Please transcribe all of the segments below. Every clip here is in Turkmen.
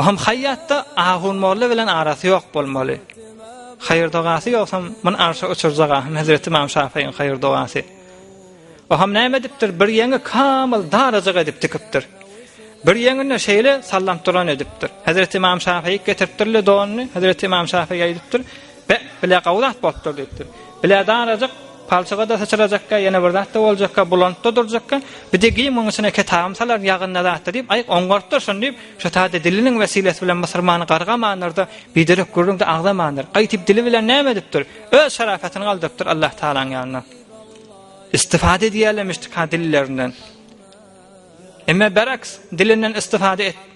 Oham haýýatda ahun molla bilen arasy ýok bolmaly. Haýyr dogasy ýogsam, men arşa uçurjak ahym hezreti imam şafyň haýyr dogasy. Oham näme edipdir, bir ýeňi kamyl darajyk edip dikipdir. Bir ýeňinde şeýle sallamturan edipdir. Hezreti imam şafyk getiripdirle donuny, hezreti imam şafyk aýdypdyr. Be, bile gowy zat bolupdyr, diýipdir. Bile darajyk, palçyga-da syçrajakka, ýene bir zat-da boljakka, bulantda durjakka, bir degýin munuň içine ketabym salaryn, ýagynda zat-da diýip, aýk oňartdyr şony diýip, şu taýda diliniň wesilesi bilen mysyrmany gargamandyr-da, biderek gürrüň-de agzamandyr. Gaýtyp dili bilen näme edipdir? Öz şarapatyny galdyrypdyr Allah Tagalaň ýanynda. Istifada edýärlemişdik-hä dillerinden. Emme beraks, dilinden istifada et.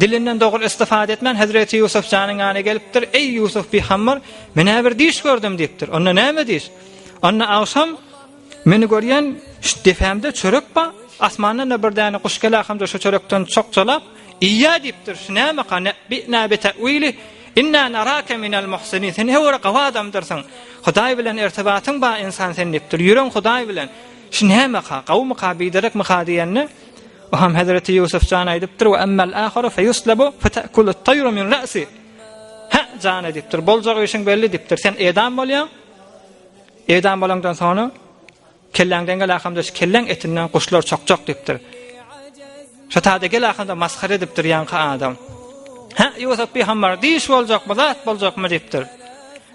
Dilinden dogry istifade etmän Hezreti Yusuf janyň ýana gelipdir. Eý Yusuf bi hammar, men äbir diş gördüm diýipdir. Onda näme diş? Onda agşam meni görýän şu depämde çörek ba, asmandan da bir däne guş gelä hamda şu çörekden çokçalap iýýä diýipdir. Şu näme ka ne bi ne bi tawili? Inna naraka minal muhsinin. Sen hewara gawa adamdyrsyň. Hudaý bilen irtibatyň ba insan sen diýipdir. Ýüren Hudaý bilen. Şu nämeka, gawumyka, biderekmika diýende, o hem hezreti Ýusuf jan aýdypdyr, we emmel aharu feyuslabu fetekulu tayru min ra'si. Hä, jan edipdir, boljak işiň belli dipdir, sen edam bolýaň, edam bolandan sonra kelläňden gel akamda şu kelläň etinden guşlar çokjak dipdir. Şu tada gel akamda maskar edipdir ýaňky adam. Hä, Ýusuf bir hamar diş boljak, bu zat boljak mı dipdir.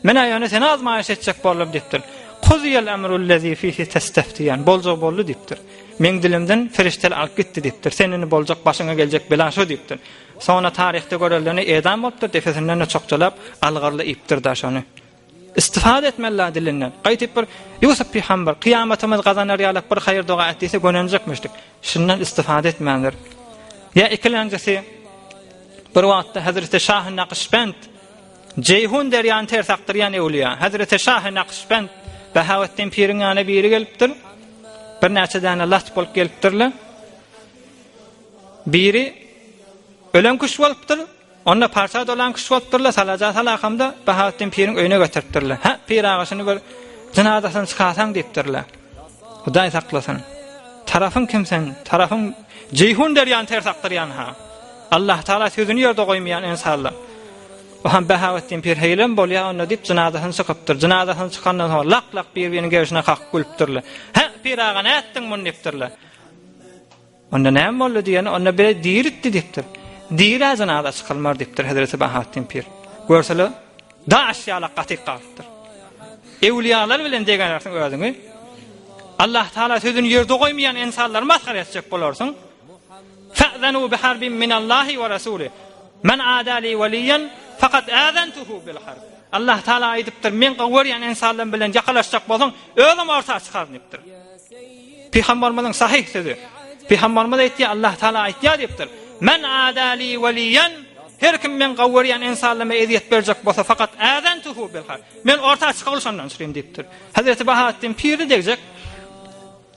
Men-ä ýöne seni azmaýyş etjek boldum diýipdir. Kuzyýel emrullezî fîhî testeftiýen. Boljag boldy diýipdir. Meň dilimden perişdeler alyp gitdi diýipdir. Sen indi boljak başyňa geljek bela şo diýipdir. Soňra taryhda görelini edam bolupdyr, depesinden-de çokjalap, algyrly iýipdir-de şony. Istifade etmeli-ä dilinden. Gaýtyp bir Ýusup pygamber, kyýamatymyz gazanar ýalap bir haýyr doga et diýse gönenjekmişdik. Şundan istifade etmändir. Ýa ikilenjisi, bir wagtda Hezreti Şahy Nakyşbend, Jeýhun derýany ters akdyrýan ewliýa Hezreti Şahy Nakşbend Bahaweddin piriň ýanyna biri gelipdir. Birnäçe däne lat bolup gelipdirler. Biri ölen kuş bolupdyr. Onda parça dolan kuş bolupdyrlar. Salaja salakamda Bahaweddin piriň öýüne getiripdirler. Ha, pir agasyny bir jynadasyny çykarsaň diýipdirler. Hudaý saklasyn. Tarafyň kim sen? Tarafyň Jeýhun derýany ters akdyrýan ha. Allah Taala sözüni ýerde goýmaýan insanlar. Bu hem Bahaweddin pir heýlem bolýa onda diýip jynazasyny çykypdyr. Jynazasyny çykandan soň lak lak bir biriniň gerişine kakyp gülüpdirler. Hä, pir aga ne etdiň muny diýipdirler. Onda ne boldy diýeni, onda bir diýildi diýipdir. Diýilä jynaza çykylmar diýipdir Hazreti Bahaweddin pir. Görsele daş ýala gatyk galypdyr. Ewliýalar bilen degenersiň özüňi. Allah Taala sözüni ýerde goýmaýan insanlar masgar etjek bolarsyň. Fa'zanu bi harbin min Allahi we Rasuli. Men adali waliyan fakat azantuhu bil harb. Allah Taala aýdypdyr, men gowy görýän insanlarym bilen ýakalaşjak bolsaň, özüm orta çykaryn diýipdir. Pygamberimiziň sahih sözi. Pygamberimiz aýtdy, Allah Taala aýtýar diýipdir. Men adali waliyan Her kim men gowy görýän insanlarma eziýet berjek bolsa, fakat azantuhu bil harb. Men orta çykalyşandan çykyn diýipdir. Hazreti Bahattin piri degjek